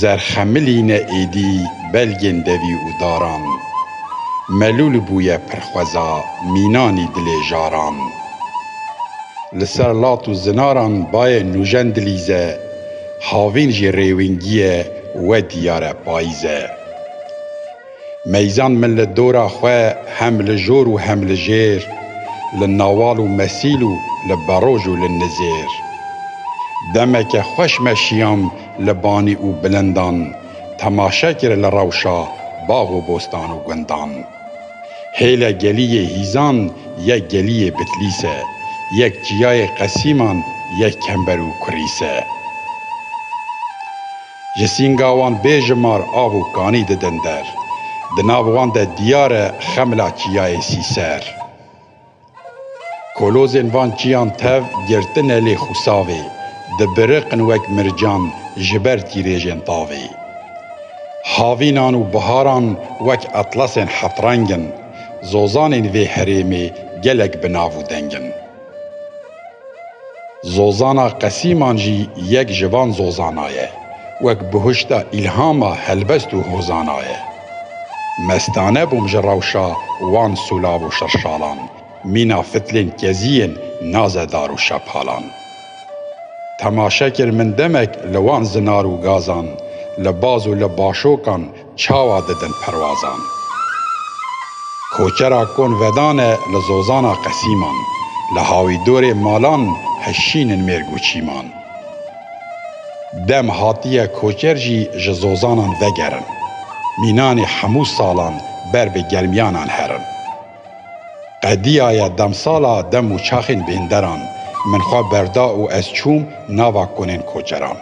Zerxemilîne êdî belgên devî û daran. Melûl bûye pirxweza mînanî dilê jaran. Li ser lat û zinaran bayê nûjen dilîze, havîn jî rêwingîye we dîyare payîze. Meyzan min li dora xwe hem li jor û hem li jêr, li nawal û mesîl û li beroj û li nizêr. Demeke xweş me şiyam li banî û bilindan, temaşe kir li rewşa bax û bostan û gundan. Hêle geliyê hîzan yek geliyê Bitlîs e, yek çiyayê Qesîman, yek kember û kurîs e. Ji sînga wan bêjimar av û kanî didin der. Di nav wan de diyar e xemla çiyayê Sîser. Kolozên van çiyan tev girtine lê xûsavê, dibiriqin wek mircan ji ber tîrêjên tavê. Havînan û biharan wek etlasên heft reng in. Zozanên vê herêmê gelek bi nav û deng in. Zozana qesîman jî yek ji van zozana ye, wek bihuşta îlhama helbest û hozana ye. Mestane bûm ji rewşa wan sûlav û şirşalan, mîna fitilên keziyên naze dar û şepalan. Temaşe kir min demek li wan zinar û gazan, li baz û li başokan, Çawa didin perwazan. Koçera kon vedane li zozana qesîman, li hawîdorê malan hişînin mêrg û çîman. Dem hatiye koçer jî ji zozanan vegerin, mînanê hemû salan ber bi gelmiyanan herin. Qediya ye demsala dem û çaxên bênderan Min xwe berda û ez çûm nava konên koçeran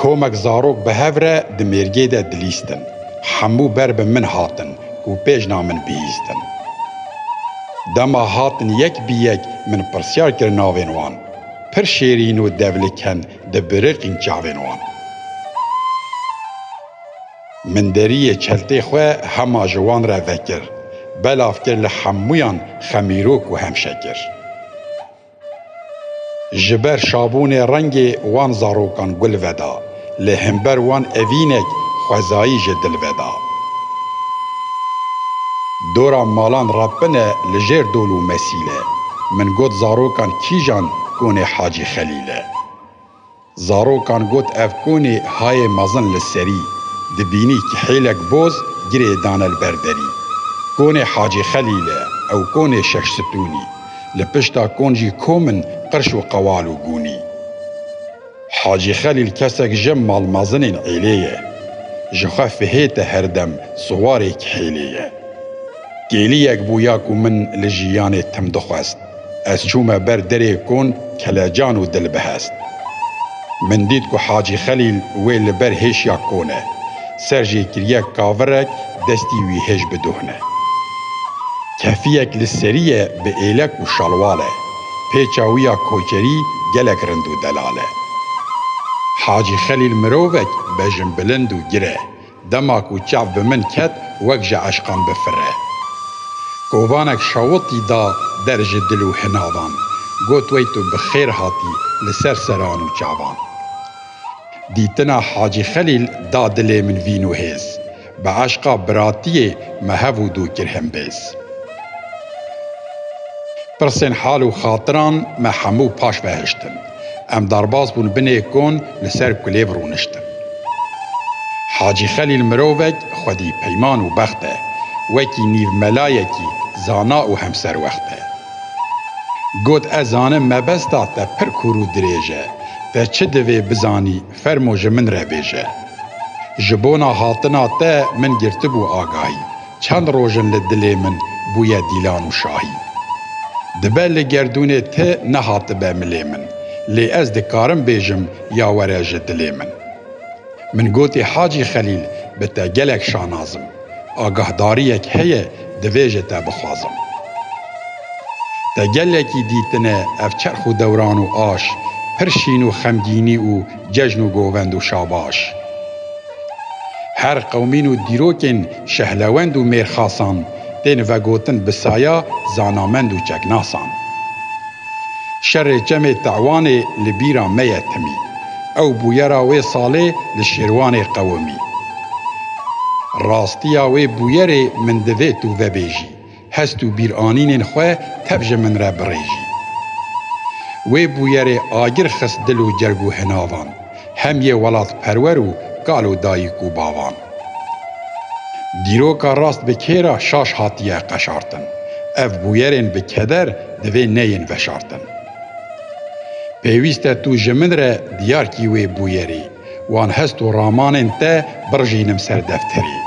Komek zarok bi hev re di mêrgê de dilîstin Hemû ber bi min hatin ku pêjna min bihîstin Dema hatin yek bi yek min pirsyar kir navên wan Pir şêrîn û devliken di biriqîn çavên wan. Min deriyê çeltê xwe hema ji wan re vekir. Belav kir li hemûyan xemîrok û hemşe kir. Ji ber şabûnê rengê wan zarokan gul veda. Lê himber wan evînek xwezayî ji dil veda. Dora malan re pine li jêr dol û mesîl e. Min got zarokan kîjan konê Hacî Xelîl e. Zarokan got ev konê hayê mezin li serî dibînî ki hêlek boz girê dane li ber derî. Konê Hacî Xelîl e ew konê şeş stûnî. Li pişta kon jî kom in qirş û qewal û gûnî. Hacî Xelîl kesek ji malmezinên êlê ye. Ji xwe fihêt e her dem siwarê ki hêlê ye. Kêliyek bû ya ku min li jiyanê tim dixwest. Ez çûme ber derê kon kelecan û dil bihest. Min dît ku Hacî Xelîl wê li ber hêşiya kon e. Ser jê kiriye kavirek destî wî hêj biduhne. Kefiyek li serî ye bi êlek û şalwal e. Pêça wî ya koçerî gelek rind û delal e. Hacî Xelîl mirovek bejinbilind û gir e. Dema ku çav bi min ket wek ji eşqan bifire. Kovanek şawitî da der ji dil û hinavan, got wey tu bi xêr hatî li ser seran û çavan. Dîtina Hacî Xelîl da dilê min vîn û hêz. Bi eşqa biratiyê me hev û dû kir himbêz. Pirsên hal û xatiran me hemû paş ve hiştin. Em derbas bûn binê kon li ser kulêv rûniştin. Hacî Xelîl mirovek xwedî peyman û bext e, wekî nîv melayekî zana û hemserwext e. Got ez zanim mebesta te pir kûr û dirêj e, te çi divê bizanî fermo ji min re bêje. Ji bona hatina te min girtibû agahî, Çend roj in li dilê min bûye Dîlan û Şahîn. Dibe li gerdûnê ti nehatibe milê min, lê ez dikarim bêjim ya were ji dilê min. Min gotî Hacî Xelîl bi te gelek şanaz im, agahdariyek heye divê ji te bixwazim. Te gelekî dîtine ev çerx û dewran û aş, pir şîn û xemgînî û Cejn û govend û şabaş her qewmîn û dîrokên şehlewend û mêrxasan tên vegotin bi saya zanamend û çeknasan. Şerê Çemê Te'wanê li bîra me ye timî. Ew bûyera wê salê li Şêrwanê qewimî. Rastiya wê bûyerê min divê tu vebêjî. Hest û bîranînên xwe tev ji min re birêjî. Wê bûyerê agir xist dil û cerg û hinavan, hem yê welatperwer û kal û dayik û bavan. Dîroka rast bi kê re şaş hatiye qeşartin, ev bûyerên bi keder divê neyên veşartin. Pêwîst e tu ji min re diyar kî wê bûyerê. Wan hest û ramanên te birjînim ser defterê.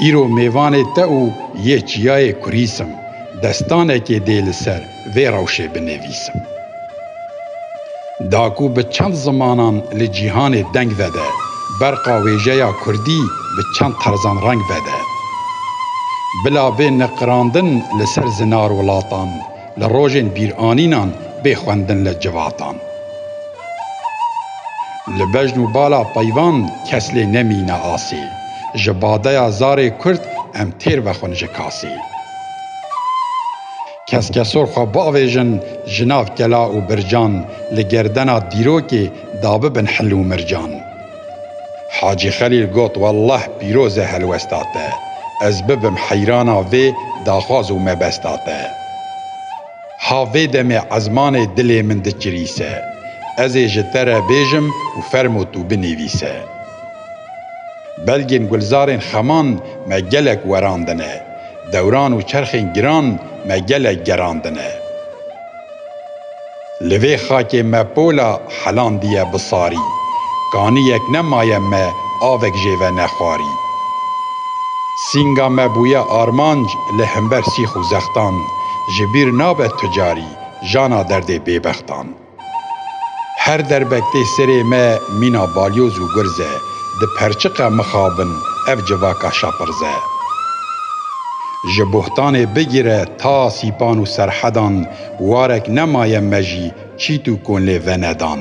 Îro mêvanê te û yê çiyayê kurîsim, destanekê dê li ser vê rewşê binivîsim. Da ku bi çend zimanan li cîhanê deng vede, berqa wêjeya kurdî bi çend terzan reng vede. Bila vê niqirandin li ser zinar welatan, Li rojên bîranînan bê xwendin li civatan. Li bejn û bala peyvan kes lê nemîne asê. Ji badeya zarê kurd em têr vexwin ji kasê. Keskesor xwe biavêjin ji nav kela û bircan li gerdena dîrokê dabibin hil û mircan. Hacî Xelîl got, Wallah pîroz e helwesta te. Ez bibim heyrana vê daxwaz û mebesta te. Ha vê demê ezmanê dilê min dikirîse. Ez ê ji te re bêjim û fermo tu binivîse. Belgên gulzarên xeman me gelek werandine, dewran û çerxên giran me gelek gerandine. Li vê xakê me pola helandiye bi sarî, kaniyek nemaye me avek jê ve nexwarî. Sînga me bûye armanc li himber sîx û zextan, ji bîr nabe tu carî jana derdê bêbextan. Her derbek tê serê me mîna balyoz û gurz e, Di perçiqa mixabin ev civaka şapirz e. Ji bohtanê bigire ta sîpan û serhedan warek nemaye me jî çît û kon lê venedan.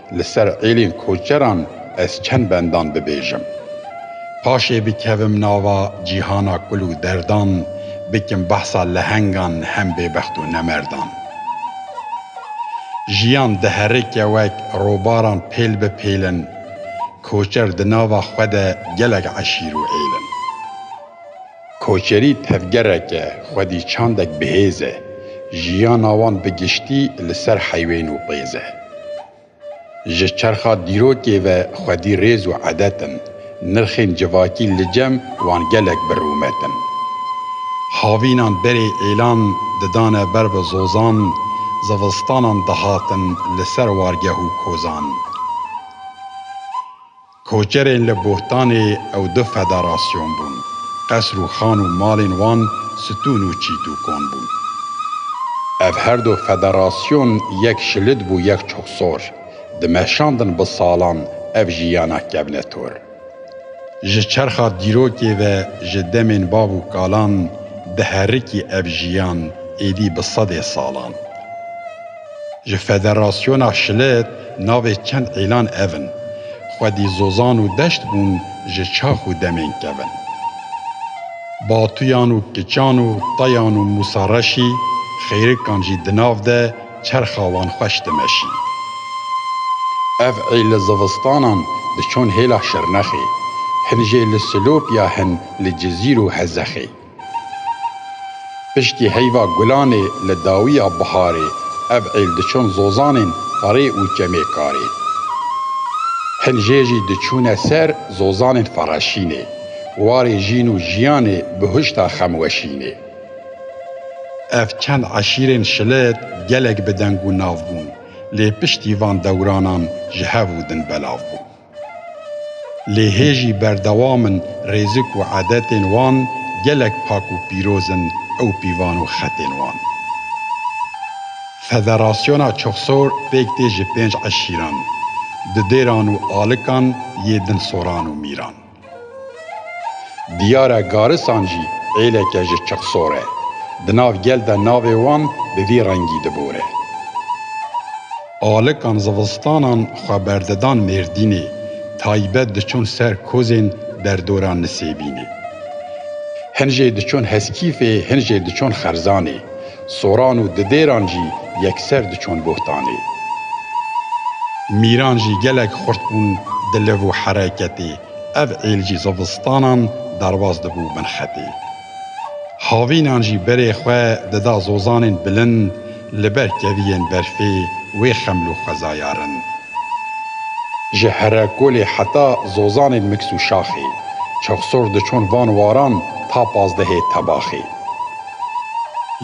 Li ser êlên koçeran ez çend bendan bibêjim. Paşê bikevim nava cîhana kul û derdan, bikim behsa lehengan hem bêbext û nemerdan. Jiyan diherike wek robaran pêl bi pêl in, koçer di nava xwe de gelek eşîr û êl in. Koçerî tevgereke xwedî çandek bihêz e, jiyana wan bi giştî li ser heyvên û pêz e. Ji çerxa dîrokê ve xwedî rêz û edet in, nirxên civakî li cem wan gelek bi rûmet in. Havînan berê êlan didane ber bi zozan, zivistanan dihatin li ser wargeh û kozan. Koçerên li Bohtanê ew du federasyon bûn. Qesr û xan û malên wan stûn û çît û kon bûn. Ev her du federasyon yek şilit bû yek çoxsor dimeşandin bi salan ev jiyana kevne tor. Ji çerxa dîrokê ve ji demên bav û kalan diherikî ev jiyan êdî bi sedê salan. Ji Federasyona Şilet navê çend îlan ev in, Xwedî zozan û deşt bûn ji çax û demên kevin. Batuyan û kiçan û tayan û Mûsa Reşî xêrikan jî di nav de çerxa wan xweş dimeşî. Ev ê li zivistanan diçûn hêla Şirnexê, hin jê li Silopya hin li Cizîr û Hezexê. Piştî heyva gulanê li dawiya biharê ev êl diçûn zozanên ferê û çemêkarê. Hin jê jî diçûne ser zozanên fereşînê. Warê jîn û jiyanê bi huşta xem weşînê. Ev çend eşîrên şilet gelek bi deng û nav bûn lê piştî van dewranan ji hev û din belav bûn. Lê hê jî berdewam in rêzik û edetên wan gelek pak û pîroz in ew pîvan û xetên wan. Federasyona Çoxsor pêk tê ji pênc eşîran, dudêran û alikan yê din soran û mîran. Diyar e garisan jî êleke ji çiq sor e. Di nav gel de navê wan bi vî rengî dibore. Alikan zivistanan xwe berdidan Mêrdînê, taybet diçûn ser kozên derdora Nisêbînê. Hin jê diçûn Heskîfê, hin jê diçûn Xerzanê. Soran û didêran jî yekser diçûn bohtanê. Mîran jî gelek xurt bûn di liv û hereketê, ev êl jî zivistanan derbas dibû bin xetê. Havînan jî berê xwe dida zozanên bilind li ber keviyên berfê wê xeml û xwezayarin. Ji herekolê heta zozanên miks û şaxê, çixsor diçûn van waran ta pazdehê tebaxê.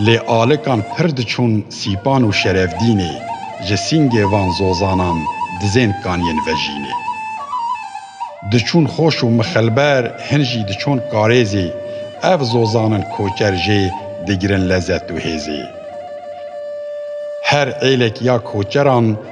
Lê alikan pir diçûn Sîpan û Şerefdînê, ji sîngê van zozanan dizên kaniyên vejînê. Diçûn Xoş û Mixilber, hin jî diçûn Karêzê, ev zozan in koçer jê digirin lezet û hêzê. Her êlek ya koçeran,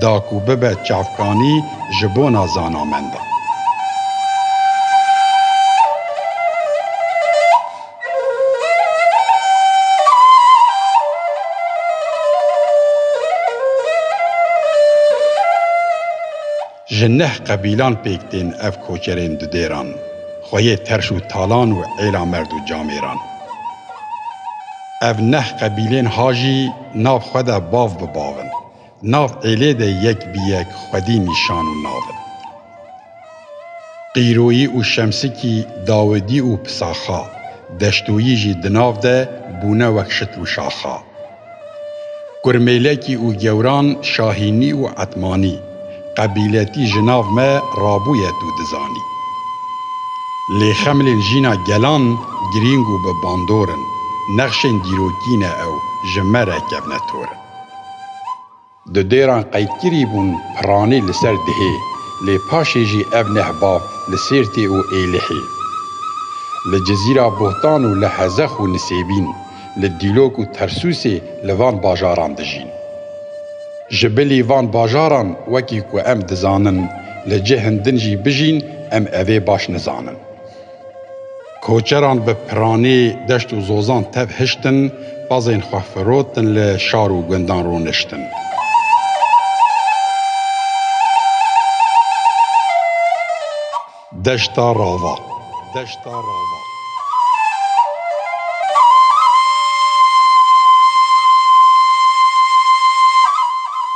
da ku bibe çavkanî ji bona zanamendan. Ji neh qebîlan pêk tên ev koçerên du dêran, xweyê terş û talan û êla merd û camêran. Ev neh qebîlên ha jî nav xwe de bav bi bav in. Nav êlê de yek bi yek xwedî nîşan û nav in. Qîroyî û Şemsikî, Dawidî û Pisaxa, Deştoyî jî di nav de bûne wek şit û şaxa. Kurmêlekî û Gewran, Şahînî û Etmanî, qebîletî ji nav me rabûye tu dizanî. Lê xemlên jîna gelan girîng û bi bandor in, nexşên dîrokî ne ew ji me re kevne tor in. Di dêran qeydkirî bûn piranî li ser dihê lê paşê jî ev neh ba li Sêrtê û Êlihê. Li Cizîra Bohtan û li Hezex û Nisêbîn, li Dîlok û Tersûsê li van bajaran dijîn. Ji bilî van bajaran wekî ku em dizanin li cihên din jî bijîn em evê baş nizanin. Koçeran bi piranî deşt û zozan tev hiştin, pezên xwe firotin li şar û gundan rûniştin. Deşta Rava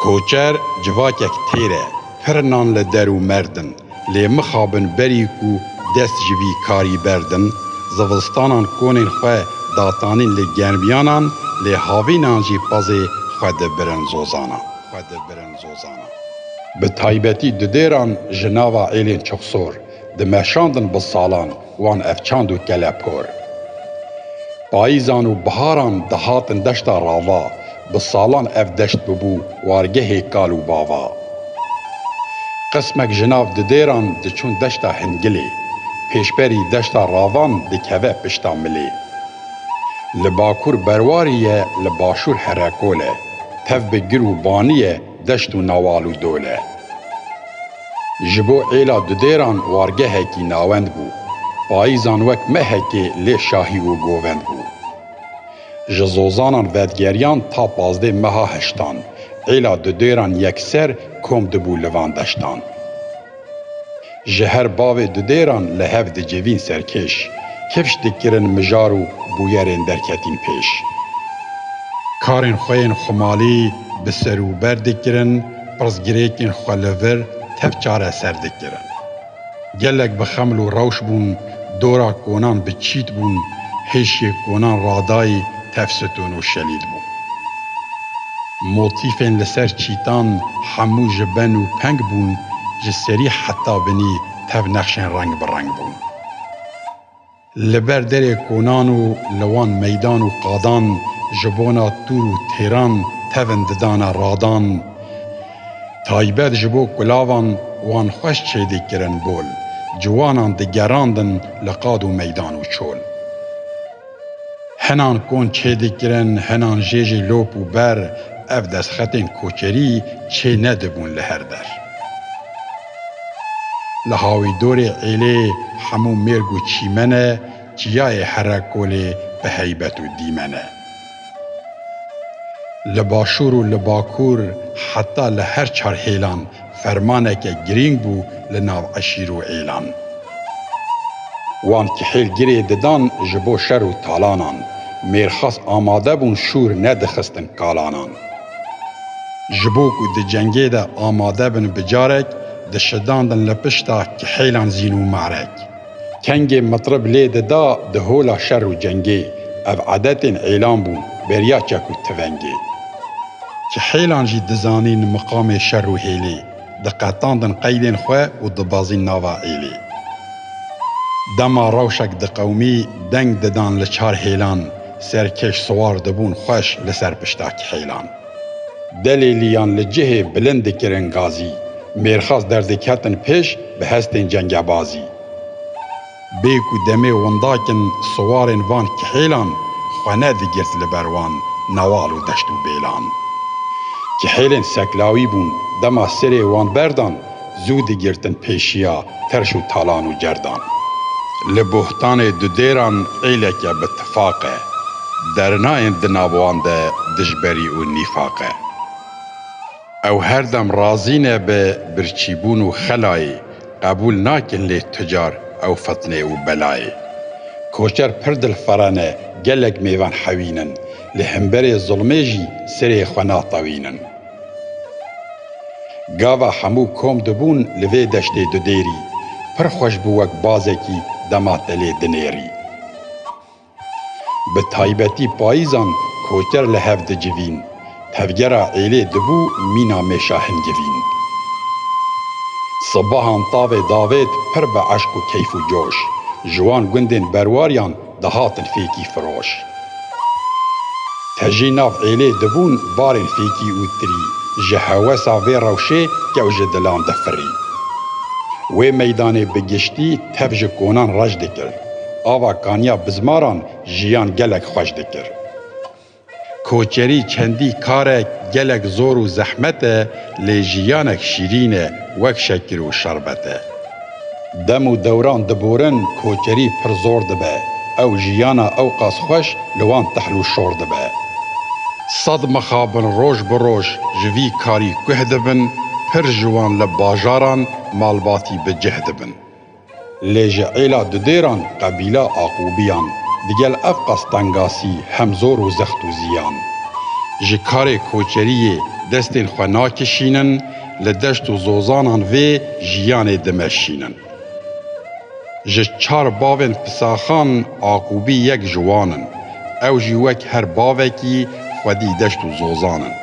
Koçer civakek têr e. Pir nan li der û merd in, lê mixabin berî ku dest ji vî karî berdin, zivistanan konên xwe datanîn li germiyanan, lê havînan jî pezê xwe dibirin zozanan. Bi taybetî di dêran ji nava êlên çixsor, dimeşandin bi salan, Wan ev çand û kelepor. Payîzan û biharan dihatin deşta rava, bi salan ev deşt bibû wargehê kal û bava. Qismek ji nav didêran diçûn deşta Hingilê, pêşberî deşta ravan dikeve pişta milê. Li bakûr berwarî ye li başûr herekol e, tev bi gir û banî ye deşt û nawal û dol e. Ji bo êla dudêran wargehekî nawend bû. Payîzan wek mehekê lê şahî û govend bû. Ji zozanan vedgeriyan ta pazdê meha heştan. Êla dudêran yekser kom dibû li van deştan. Ji her bavê dudêran li hev dicivîn serkêş. Kifş dikirin mijar û bûyerên derketîn pêş. Karên xwe yên xumalî bi ser û ber dikirin. Pirsgirêkên xwe li vir tev çareser dikirin. Gelek bi xeml û rewş bûn, dora konan bi çît bûn, hêşiyê konan radayî tev sitûn û şelîd bû. Motîfên li ser çîtan hemû ji ben û peng bûn, ji serî heta binî tev nexşên reng bi reng bûn. Li ber derê konan û li wan meydan û qadan ji bona tûr û têran tevin didane radan. Taybet ji bo kulavan wan xweş çêdî kirin bol. Ciwanan digerandin li qad û meydan û çol. Hinan kon çêdî kirin, hinan jê jî lop û ber. Ev destxetên koçerî çê nedibûn li her der. Li Hawîdorê êlê hemû mêrg û çîmen e, çiyayê here kolê bi heybet û dîmen e. Li Başûr û li Bakur heta li her çar hêlan fermaneke girîng bû li nav eşîr û êlan. Wan kihêl girê didan ji bo şer û talanan, mêrxas amade bûn şûr nedixistin kalanan. Ji bo ku di cengê de amade bin bi carek dişidandin li pişta kihêlan zîn û marek. Kengê mitrib lê dida di hola şer û cengê, ev edetên êlan bûn beriya çek û tivengê. Kihêlan jî dizanîn miqamê şer û hêlê. Diqetandin qeydên xwe û dibazîn nava êlê. Dema rewşek diqewimî deng didan li çar hêlan, serkêş siwar dibûn xweş li ser pişta kihêlan. Delêlîyan li cihê bilind dikirin gazî, mêrxas derdiketin pêş bi hestên cengebazî. Bê ku demê windak in siwarên van kihêlan xwe ne digirt li ber wan newal û deşt û bêlan. Kihêlên seklawî bûn dema sirê wan berdan zû digirtin pêşiya terş û talan û cerdan. Li bohtanê dudêran êleke bi tifaq e. Dernayên di nav wan de dijberî û nîfaq e. Ew her dem razî ne bi birçîbûn û xelayê, qebûl nakin lê tu car ew fitnê û belayê. Koçer pir dilfere ne, gelek mêvan hewîn in, li hemberê zilmê jî serê xwe natewînin. Gava hemû kom dibûn li vê deştê dudêrî, pir xweş bû wek bazekî dema te lê dinêrî. Bi taybetî payîzan koçer li hev dicivîn. Tevgera êlê dibû mîna mêşa hingivîn. Sibahan tavê davêt pir bi eşq û keyf û coş. Ji wan gundên berwariyan dihatin fêkî firoş. Te jî nav êlê dibûn barên fêkî û tirî. Ji hewesa vê rewşê kew ji dilan difirî. Wê meydanê bi giştî Tev ji konan reş dikir. Ava kaniya bizmaran jiyan gelek xweş dikir. Koçerî çendî karek gelek zor û zehmet e lê jiyanek şîrîn e wek şekir û şerbet e. Dem û dewran diborin koçerî pir zor dibe ew jiyana ewqas xweş li wan tehl û şor dibe. Sed mixabin roj bi roj ji vî karî guh dibin, pir ji wan li bajaran malbatî bi cih dibin. Lê ji êla dudêran qebîla Aqubiyan digel ev qastengasî hem zor û zext û ziyan. Ji karê koçeriyê destên xwe nakişînin, li deşt û zozanan vê jiyanê dimeşînin. Ji çar bavên pisaxan Aqubî yek ji wan in. Ew jî wek her bavekî xwedî deşt û zozan in.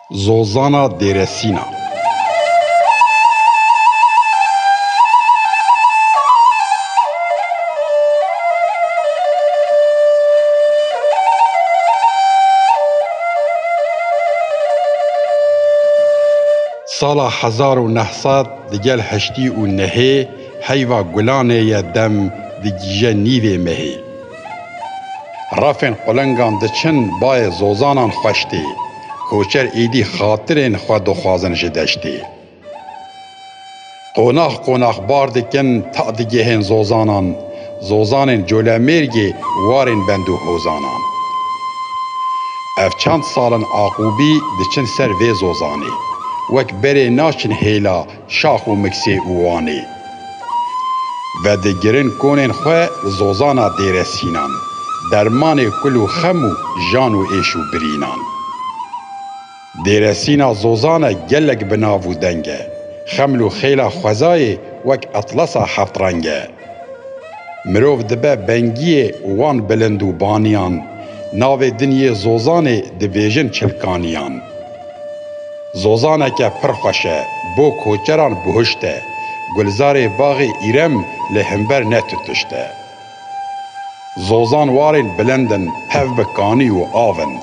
Zozana Dêresîna. Sala hezar û neh sed di gel heştî û nehê heyva gulanê ye dem digîje nîvê mehê. Refên qulengan diçin bayê zozanan xweş tê. Koçer êdî xatirên xwe dixwazin ji deştê. Qonax qonax bar dikin ta digihên zozanan, zozanên Colemêrgê warên bend û hozanan. Ev çend sal in Aqubî diçin ser vê zozanê. Wek berê naçin hêla Şax û Miksê û Wanê vedigirin konên xwe zozana Dêresînan, dermanê kul û xem û jan û êş û birînan. Dêresîna zozane gelek bi nav û deng e. Xeml û xêla xwezayê wek etlasa heft reng e. Mirov dibe bengiyê wan bilind û baniyan navê dinyê zozanê dibêjin çilkaniyan. Zozaneke pir xweş e, bo koçeran buhişt e, gulzarê baxê îrem li himber ne tutişt e. Zozan warên bilind in, hev bi kanî û av in,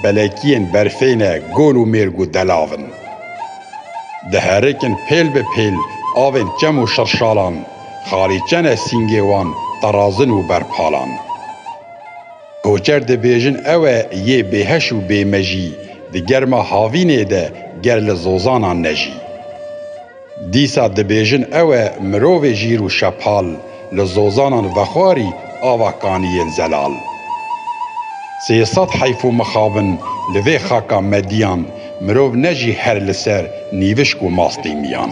belekiyên berfê ne, gol û mêrg û delav in. Diherikin pêl bi pêl avên çem û şirşalan. Xalî çene sîngê wan terazin û berpalan. Koçer dibêjin ew e yê bêheş û bêmejî di germa havînê de ger li zozanan nejî. Dîsa dibêjin ew e mirovê jîr û şepal li zozanan vexwarî ava kaniyên zelal. Sê sed heyf û mixabin li vê xaka mediyan mirov nejî her li ser nîvişk û mastîmiyan.